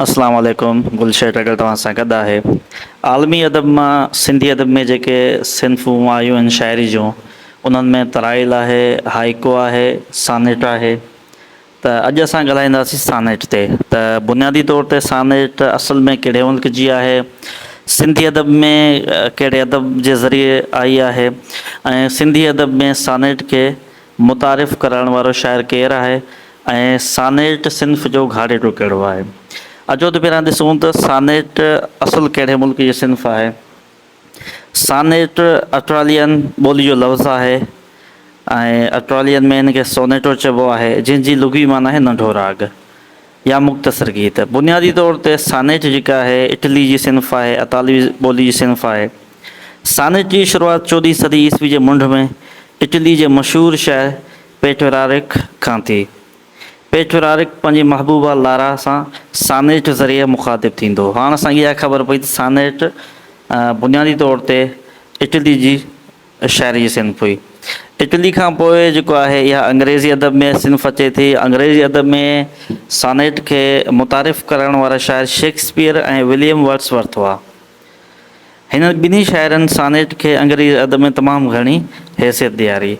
اسلام عليڪم گل شيٽ اگر توهان سان گڏ آهي عالمي ادب مان سنڌي ادب ۾ جيڪي صنفون آيون آهن شاعري جون انهن ۾ ترائيل آهي هائيڪو آهي سانيٽ آهي ته اڄ اسان ڳالهائينداسين سانيٽ تي ته بنيادي طور تي سانيٽ اصل ۾ ڪهڙي ملڪ جي آهي سنڌي ادب ۾ ڪهڙي ادب جي ذريعي آئي آهي ۽ سنڌي ادب ۾ سانيٽ کي متعارف ڪرائڻ وارو شاعر ڪير آهي ۽ سانيٽ صنف جو گهاڙيٽو ڪهڙو آهي؟ اچو ته پهريان ڏسون ته سانيٽ اصل ڪهڙي ملڪ جي صنف آهي. سانيٽ اٽرالين ٻولي جو لفظ آهي ۽ اٽرالين ۾ هن کي سونيٽو چئبو آهي، جنهن جي لغوي معنيٰ آهي ننڍو راڳ. يا مختصر گيت، بنيادي طور تي سانيٽ جيڪا آهي اٽلي جي صنف آهي، اطالوي ٻولي جي صنف آهي. سانيٽ جي شروعات چوڏهين صدي عيسوي جي منڍ ۾ اٽلي جي مشهور شاعر پيٽرارڪ کان ٿي. پيٽرارڪ پنهنجي محبوبه لارا سان سانيٽ ذريعي مخاطب ٿيندو. هاڻ اسان کي اها خبر پئي ته سانيٽ بنيادي طور تي اٽلي جي شاعري صنف هئي. اٽلي کان پوء جيڪو آهي اها انگريزي ادب ۾ صنف اچي ٿي. انگريزي ادب ۾ سانيٽ کي متعارف ڪرائڻ وارا شاعر شيڪسپيئر ۽ وليم ورڊس ورٿ هئا. هنن ٻنهي شاعرن سانيٽ کي انگريزي ادب ۾ تمام گهڻي حيثيت ڏياري.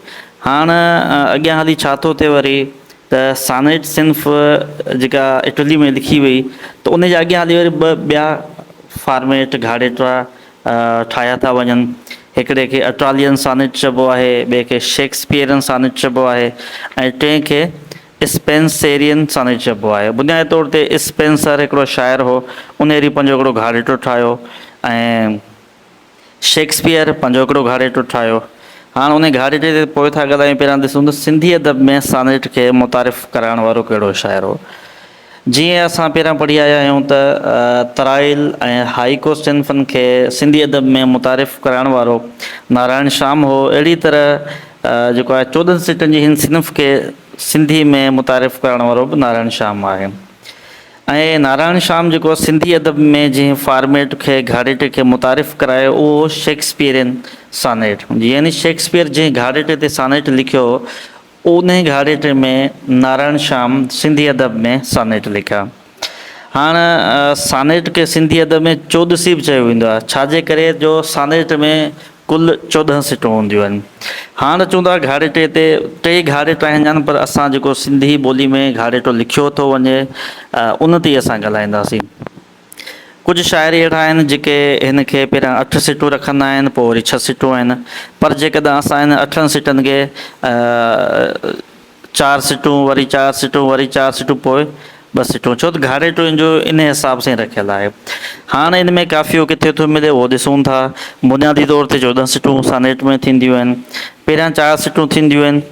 هاڻ اڳيان هلي ڇا ٿو ٿئي وري ته سانيٽ صنف جيڪا اٽلي ۾ لکي وئي ته ان جا اڳيان هلي وري ٻه ٻيا فارميٽ گهاڙيٽرا، ٺاهيا ٿا وڃن. هڪڙي کي اٽالين سانيٽ چئبو آهي، ٻئي کي شيڪسپيئرن سانيٽ چئبو آهي ۽ ٽئين کي اسپينسيرين سانيٽ چئبو آهي. بنيادي طور تي اسپينسر هڪڙو شاعر هو. انهيري پنهنجو هڪڙو گهاڙيٽو ٺاهيو ۽ شيڪسپيئر پنهنجو هڪڙو گهاڙيٽو ٺاهيو. هاڻ انهي گهاڙيٽي تي پوء ٿا ڳالهايون، پهريان ڏسون ته سنڌي ادب ۾ سانيٽ کي متعارف ڪرائڻ وارو ڪهڙو شاعر هو. جيئن اسان پهريان پڙهي آيا آهيون ته ترائيل ۽ هائيڪو صنفن کي سنڌي ادب ۾ متعارف ڪرائڻ وارو نارائڻ شام هو، اهڙي طرح جيڪو آهي چوڏهن سٽن جي هن صنف کي سنڌي ۾ متعارف ڪرائڻ وارو به نارائڻ شام آهي ۽ نارائڻ شام جيڪو سنڌي ادب ۾ جنهن فارميٽ کي گهاڙيٽي کي متعارف ڪرايو اهو هو شيڪسپيئرين سانيٽ يعني شيڪسپيئر جنهن گهاڙيٽي تي سانيٽ لکيو هو، انهيء گهاڙيٽي ۾ نارائڻ شيام سنڌي ادب ۾ سانيٽ لکيا. هاڻ سانيٽ کي سنڌي ادب ۾ چوڏسي به چيو ويندو آهي، ڇاجي ڪري جو سانيٽ ۾ ڪل چوڏهن سٽون هونديون آهن. هاڻ چون ٿا گهاڙيٽي تي ٽي گهاڙيٽا هيندا آهن پر اسان جيڪو سنڌي ٻولي ۾ گهاڙيٽو لکيو ٿو وڃي ان تي ئي اسان ڳالهائينداسين. ڪجهه شاعر اهڙا آهن جيڪي هن کي پهريان اٺ سٽون رکندا آهن پوء وري ڇهه سٽون آهن پر جيڪڏهن اسان انهن اٺن سٽن کي چار سٽون وري چار سٽون وري چار سٽون پوء ٻه سٽون ڇو ته گهاڙي ٽوين جو ان حساب سان رکيل آهي هاڻ ان ۾ قافيو ڪٿي ٿو ملي اهو ڏسون ٿا بنيادي طور تي چوڏهن سٽون سانيٽ ۾ ٿينديون آهن پهريان چار سٽون ٿينديون آهن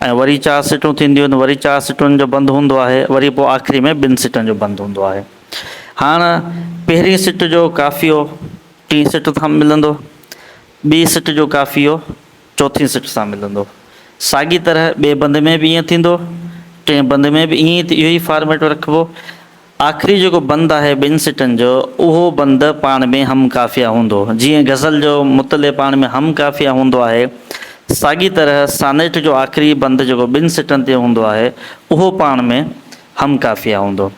۽ وري چار سٽون ٿينديون آهن وري چار سٽن جو بند هوندو آهي وري پوء آخري ۾ ٻن سٽن جو بند هوندو آهي هاڻ پهرين سٽ جو ڪافيو ٽين سٽ سان ملندو ٻي سٽ جو ڪافيو چوٿين سٽ سان ملندو ساڳي طرح ٻئي بند ۾ به ائين ٿيندو ٽئين بند ۾ به ائين اهو ئي فارميٽ رکبو آخري جيڪو بند آهي ٻن سٽن جو، اهو بند پاڻ ۾ هم قافيه هوندو. جيئن غزل جو مطلع پاڻ ۾ هم قافيه هوندو آهي، ساڳي طرح سانيٽ جو آخري بند جيڪو ٻن سٽن تي هوندو آهي، اهو پاڻ ۾ هم قافيه هوندو.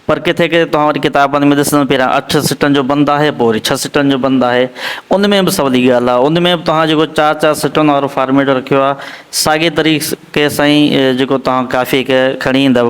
پر ڪٿي ڪٿي توهان وٽ ڪتابن ۾ ڏسندو پهريان اٺ سٽن جو بند آهي، پوء وري ڇهه سٽن جو بند آهي. ان ۾ به سولي ڳالهه آهي. ان ۾ به توهان جيڪو چار چار سٽن وارو فارميٽ رکيو آهي، ساڳي طريقي سان ئي جيڪو توهان قافيه کي کڻي ايندؤ.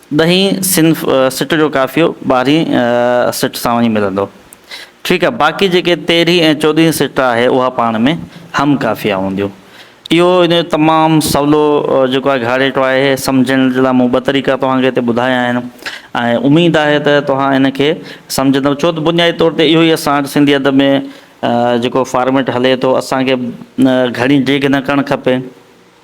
ڏهين صنف سٽ جو قافيو ٻارهين سٽ سان وڃي ملندو. ٺيڪ آهي، باقي جيڪي تيرهين ۽ چوڏهين سٽ آهي اها پاڻ ۾ هم قافيا هونديون. اهو ان جو تمام سولو جيڪو آهي گهاڙيٽو آهي. سمجهڻ جي لاء مون ٻه طريقا توهان کي هتي ٻڌايا آهن ۽ اميد آهي ته توهان ان کي سمجهندؤ. ڇو ته بنيادي طور تي اهو ئي اسان وٽ سنڌي ادب ۾ جيڪو فارميٽ هلي ٿو. اسان کي گهڻي ڊيگهه نه ڪرڻ کپي.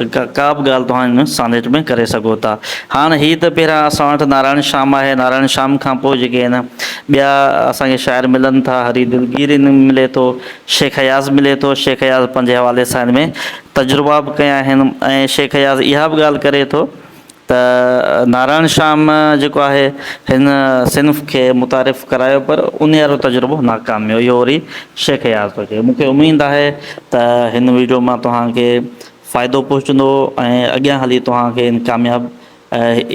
ڪابه ڳالهه توهان هن سانيٽ ۾ ڪري سگهو ٿا. هاڻ هي ته پهريان اسان وٽ نارائڻ شيام آهي، نارائڻ شيام کان پوء جيڪي هن ٻيا اسان کي شاعر ملن ٿا، هري دلگير هن ۾ ملي ٿو، شيخ اياز ملي ٿو، شيخ اياز پنهنجي حوالي سان هن ۾ تجربا به ڪيا آهن ۽ شيخ اياز اها به ڳالهه ڪري ٿو، ته نارائڻ شام جيڪو آهي هن صنف کي متعارف ڪرايو پر انيارو تجربو ناڪام ويو اهو وري شيخ اياز ٿو چئي مونکي اميد آهي ته هن ويڊيو مان توهان کي فائدو پهچندو ۽ اڳيان هلي توهان کي ان ڪامياب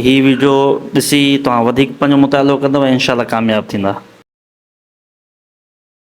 هي ويڊيو ڏسي توهان وڌيڪ پنهنجو مطالعو ڪندو ۽ انشاء الله ڪامياب ٿيندا.